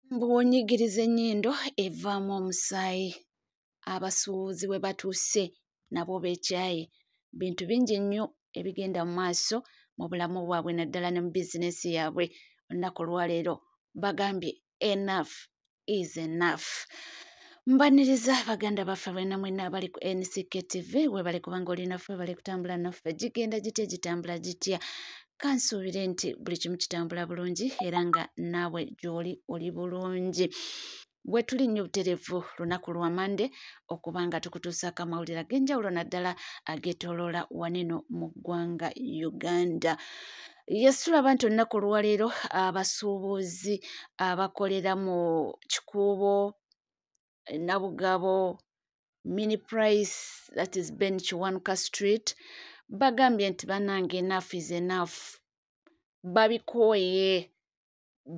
bw'onyigiriza ennyindo evaamu omusaayi abasuubuzi we batuuse nabo beekyaye bintu bingi nnyo ebigenda mu maaso mu bulamu bwabwe naddala ne mu bizinensi yaabwe olunaku olwaleero bagambye enaf is enaf mbaniriza baganda baffe bwena mwena abali ku nck tv webale kubanga olinafe bali kutambula naffe gigenda gitya gitambula gitya kansuubire nti buli kimu kitambula bulungi era nga naawe gy'oli oli bulungi bwe tuli nnyo buterevu lunaku lwa mande okuba nga tukutuusaako amawulire ag'enjawulo naddala ageetooloola waneno mu ggwanga uganda yesitulaba nti olunaku olwaleero abasuubuzi abakolera mu kikuubo nabugabo mini price that is ben kiwanuka street bagambye nti banange enough is enough babikooye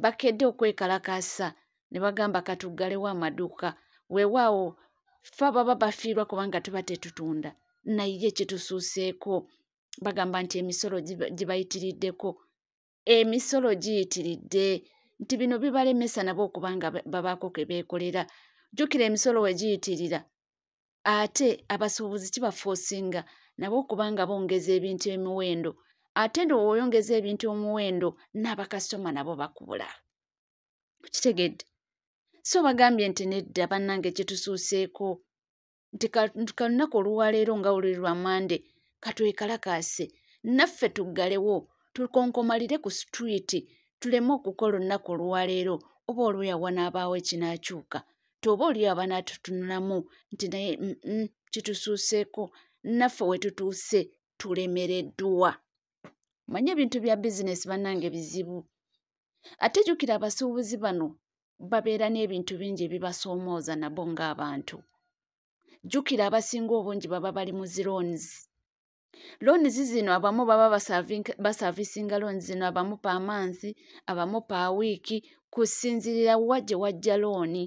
bakedde okwekalakaasa ne bagamba katuggalewo amaduuka weewaawo fa baba bafiirwa kubanga tuba tetutunda naye kitusuuseeko bagamba nti emisolo gibayitiriddeko emisolo giyitiridde nti bino bibalemesa nabo okuba nga babaako ke beekolera jjukira emisolo we giyitirira ate abasuubuzi kibafoosinga nabo okuba nga bongeza ebintu emiwendo ate ndo woyongeza ebintu omuwendo n'abakasitoma nabo bakubula kitegedde so bagambye nti nedda bannange kitusuuseeko nti kalunaku oluwaleero nga oluli lwa mande katwekalakaase naffe tuggalewo tukonkomalire ku situriiti tuleme okukola olunaku oluwaleero oba olweyawa n'abaawo ekinaakyuka tyoba oli abaana tutunulamu nti naye kitusuuseeko naffe we tutuuse tulemereddwa manye ebintu bya bizinesi bannange bizibu ate jukira abasuubuzi bano babeera n'ebintu bingi ebibasoomooza nabo ng'abantu jjukira abasinga obungi baba bali mu zi loans loans zino abamu baba basavisinga loans zino abamu pa mansi abamu pa wiiki kusinzirira wa gye wajja looni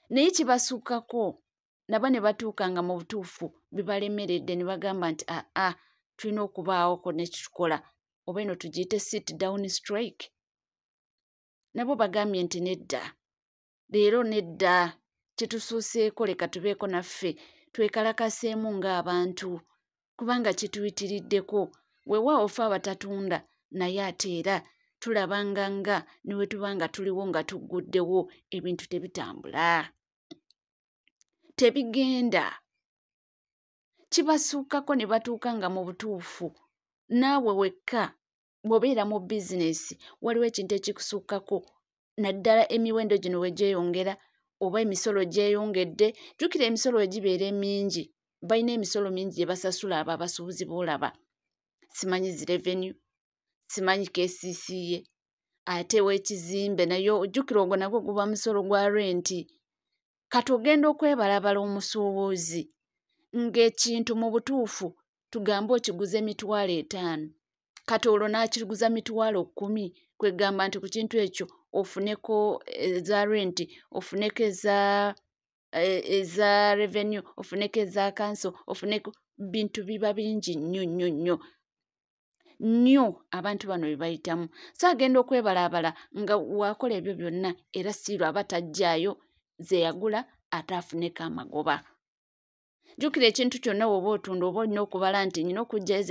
naye kibasukkako nabo ne batuuka nga mu butuufu bibalemeredde ne bagamba nti aa ah, ah, tulina okubaawoko nekitukola oba eno tugiyite sit down strike nabo bagambye nti nedda leero nedda kyetusuuseeko leka tubeeko naffe twekalakaseemu ng'abantu kubanga kituyitiriddeko wewa ofa abatatunda naye ate era tulaba nga nga ne we tuba nga tuliwo nga tugguddewo ebintu tebitambula tebigenda kibasuukako ne batuuka nga mu butuufu naawe wekka bw'obeera mu bizinesi waliwo ekintu ekikusukkako naddala emiwendo gino we gyeyongera oba emisolo gyeyongedde jjukira emisolo we gibeera emingi balina emisolo mingi gye basasula abo abasuubuzi boolaba simanyi zi revenue simanyi kcca ate wekizimbe naye ojjukira ogwo nagwo guba musolo gwa renti kati ogenda okwebalabala omusuubuzi ng'ekintu mu butuufu tugambe okiguze emitwalo etaano kati olwo n'akiguza mitwalo kkumi kwegamba nti ku kintu ekyo ofuneko eza eh, renti ofuneko eza eh, eza revenue ofuneko eza kanso ofuneko bintu biba bingi nnyo nnyo nnyo nnyo abantu bano bye bayitamu so agenda okwebalaabala nga wakola ebyo byonna era siiru aba tajjaayo ze yagula ate afuneko amagoba jjukira ekintu kyonna woba otunda oba olina okubala nti nyina okujjayo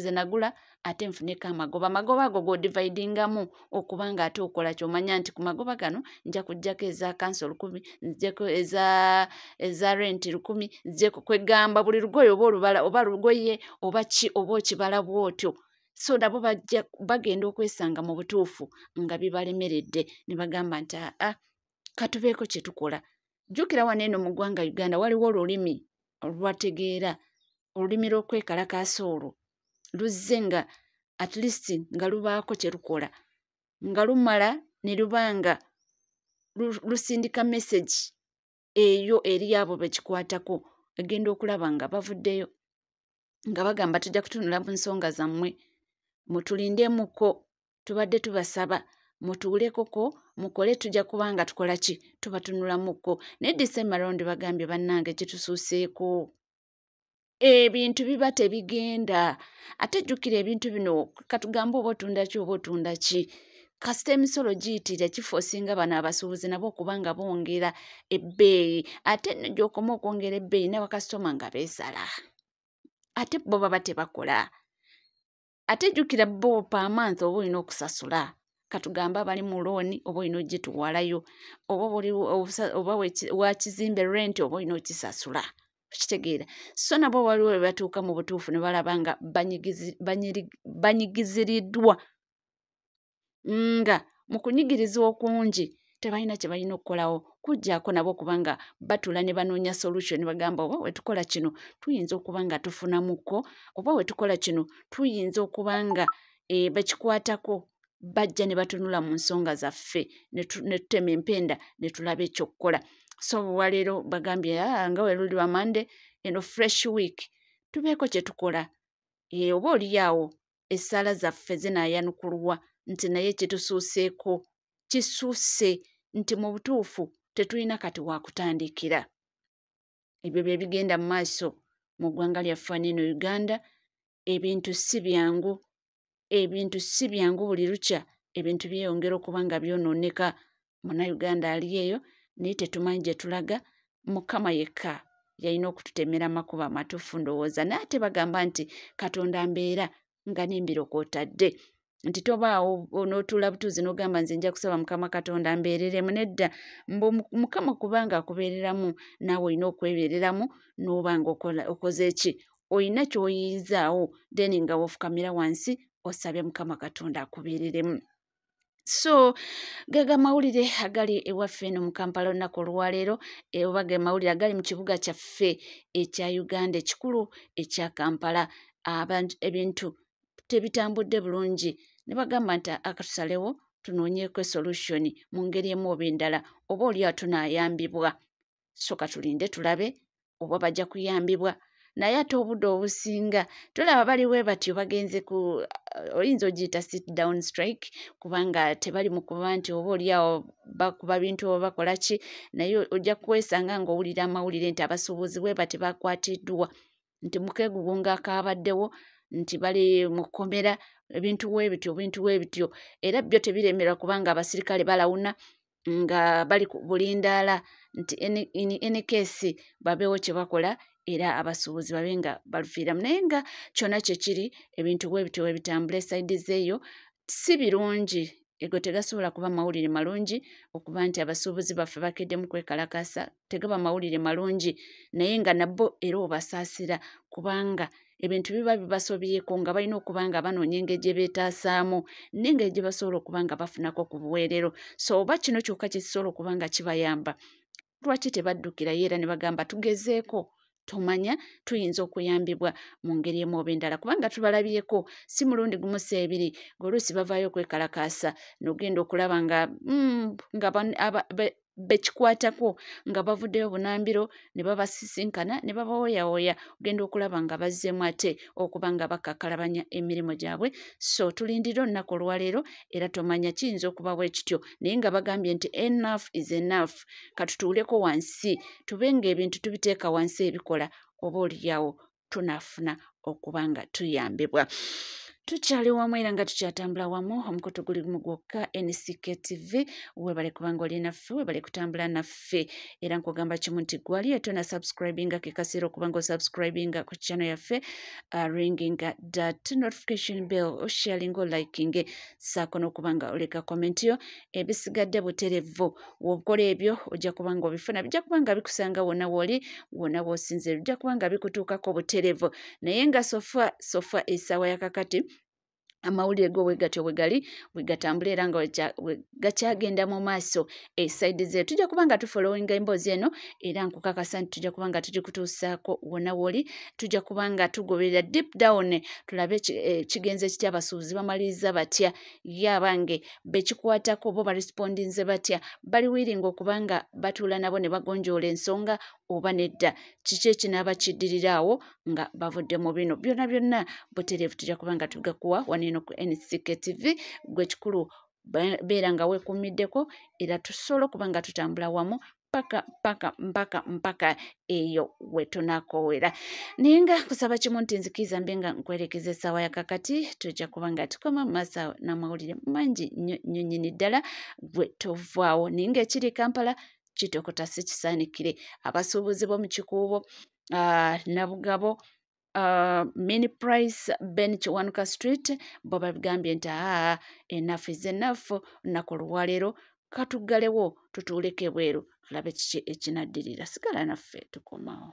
ze nagula ate nfuneko amagoba amagoba ago godivaidingamu okuba nga ate okola kyomanya nti ku magoba gano nja kujjako eza kanso lukumi nzijeko eza eza renti lukumi nzijeko kwegamba buli lugoye oba olubala oba lugoye oba ki oba okibala bwotyo so nabo bajja bagenda okwesanga mu butuufu nga bibalemeredde ne bagamba nti aa ah, ah, katubeeko kye tukola jjukira wano eno mu ggwanga uganda waliwo olulimi olwategeera olulimi lw'okwekalakaasa olwo luzze nga at least nga lubaako kye lukola nga lumala ne luba nga lusindika message eyo eri abo bekikwatako egenda okulaba nga bavuddeyo nga bagamba tujja kutunula mu nsonga zammwe mutulindemuko tubadde tubasaba mutuulekoko mukole tujja kuba nga tukola ki tubatunulamuko naye disemba rondi bagambye bannange kitusuuseeko ebintu biba tebigenda ate jjukira ebintu bino katugambe oba otunda ki oba otunda ki kasita emisolo giyitira kifo osinga bano abasuubuzi nabo okuba nga bongera ebbeeyi ate nno gyokoma okwongera ebbeeyi n'abakasitoma nga beesala ate bo baba tebakola ate jjukira bo paamansi oba olina okusasula katugambe abali mu looni oba olina ogituwalayo oba oba wakizimbe renti oba olina okisasula okitegeera so nabo waliwo webatuuka mu butuufu ne balaba nga banyigiziriddwa nga mu kunyigiriza okungi tebalina kye balina okukolawo kujjako nabo okuba nga batula ne banoonya solution bagamba oba wetukola kino tuyinza okuba nga tufunamuko oba wetukola kino tuyinza okuba nga e, bakikwatako bajja ne batunula mu nsonga zaffe ne tutema empenda ne tulaba ekyokukola so waleero bagambye ah, nga weruli wa mande eno fresh week tubeeko kye tukola e, oba oliyaawo essaala zaffe zinaayanukulwa nti naye kitusuuseeko kisuuse nti mu butuufu tetulina kati waakutandikira ebyo bye bigenda mu maaso mu ggwanga lyaffe aneeno uganda ebintu si byangu ebintu si byangu buli lukya ebintu byeyongera okuba nga byonooneka munauganda ali eyo naye tetumanyi gye tulaga mukama yekka yalina okututemera amakuba amatuufu ndowooza naye ate bagamba nti katonda mbeera nga nembiro kwotadde nti tobaawo onotuula butuuzi n'ogamba nze nja kusaba mukama katonda mbeereremu nedda mbu mukama kubanga akubeereramu naawe olina okwebeereramu n'oba nga okoze ki olina ky'oyinzaawo then nga wofukamira wansi osabye mukama katonda akubeereremu so gaga mawulire agali ewaffe eno mu kampala olunaku olwaleero e, oba ge mawulire agali mu kibuga kyaffe ekya uganda ekikulu ekya kampala abantu ebintu tebitambudde bulungi ne bagamba nti akatusalewo tunoonyeeko esolution mu ngeri emu oba endala oba oli atunayambibwa so katulinde tulabe oba bajja kuyambibwa naye ate obudde obusinga tulaba bali we batyo bagenze ku uh, oyinza ogiyita sit down strike kubanga tebali mu kuba nti oba oliawo bakuba bintu oba bakola ki naye ojja kwesanga ng'owulira amawulire nti abasuubuzi we bati bakwatiddwa nti mukegugunga akaabaddewo nti bali mu kkomera ebintu webityo ebintu webityo era byo tebiremera kubanga abasirikale balawuna nga bali bulindaala nti enikesi babeewo kye bakola era abasuubuzi babe nga balufiiramu naye nga kyona kyekiri ebintu webityo webitambula esaidi zeeyo si birungi ego tegasobola kuba mawulire malungi okuba nti abasuubuzi baffe bakeddemu kwekalakaasa tegaba mawulire malungi naye nga nabbo era obasaasira kubanga ebintu biba bibasobyeko nga balina okuba nga banoonya engeri gye beetaasaamu n'engeri gye basobola okuba nga bafunako ku buweerero so oba kino kyokka kye kisobola okuba nga kibayamba lwaki tebaddukirayo era ne bagamba tugezeeko tumanya tuyinza okuyambibwa mu ngeri emu oba endala kubanga tubalabyeko si mulundi gumu si ebiri ngaoluusi bavaayo okwekalakaasa nogenda okulaba nga mm, nga bekikwatako nga bavuddeyo bunambiro ne babasisinkana ne babawoyawoya ogenda okulaba nga bazzeemu ate okuba nga bakakalabanya emirimu gyabwe so tulindire olunaku olwaleero era tomanya kiyinza okuba bwe kityo naye nga bagambye nti enough is enough katutuuleko wansi tube ng'ebintu tubiteeka wansi ebikola oba oliyawo tunaafuna okuba nga tuyambibwa tukyali wamu era nga tukyatambula wamu omukutu guli gumu gwokka ncktv webale kubanga oli naffe webale kutambula naffe yaffe era nkugamba kimu nti gwali etona subscribinga kekasiira okuba nga osubscribinga ku channel yaffe uh, ringinga dat notification bell osharinga olikinge saako n'okuba nga oleka comment yo ebisigadde buterevu wobukola ebyo ojja kuba nga obifuna bijja kuba nga bikusanga wonna wooli wonna wosinzira bijja kuba nga bikutuukako buterevu naye nga sofa sofa esaawa yakakati amawulire go wegatyo wegali wegatambula era nga gakyagenda mu maaso esaidi ze tujja kuba nga tufolowinga emboozi eno era nkukakasa nti tujja kuba nga tugikutuusaako wona woli tujja kuba nga tugoberera deep down tulabe eh, kigenze kitya abasuubuzi bamaliriza batya ye abange bekikwatako bo barespondinze batya bali wiringa okuba nga batuula nabo ne bagonjoola ensonga oba nedda kiki ekinaaba kiddiriraawo nga bavudde mu bino byona byonna butereevu tujja kuba nga tugakuwa waneeno ku nctk tv gwe kikulu beera nga weekuumiddeko era tusobola okuba nga tutambula wamu mpaka mpaka mpaka mpaka eyo wetunakowera naye nga kusaba kimu nti nzikiiza mbe nga nkwerekeza essaawa yakakati tujja kuba nga tukoma mumaaso awo n'amawulire mangi nyo nyo nyini ddala gwe tovaawo naye nga ekiri kampala kitokota si kisaanikire abasuubuzi bo mu kikuubo uh, nabugabo uh, mini price ben kiwanuka street bo babigambye nti aa enafu is enafu naku olwaleero katuggalewo tutuuleko ebweru tulabe kiki ekinaddirira sigala naffe tukomawo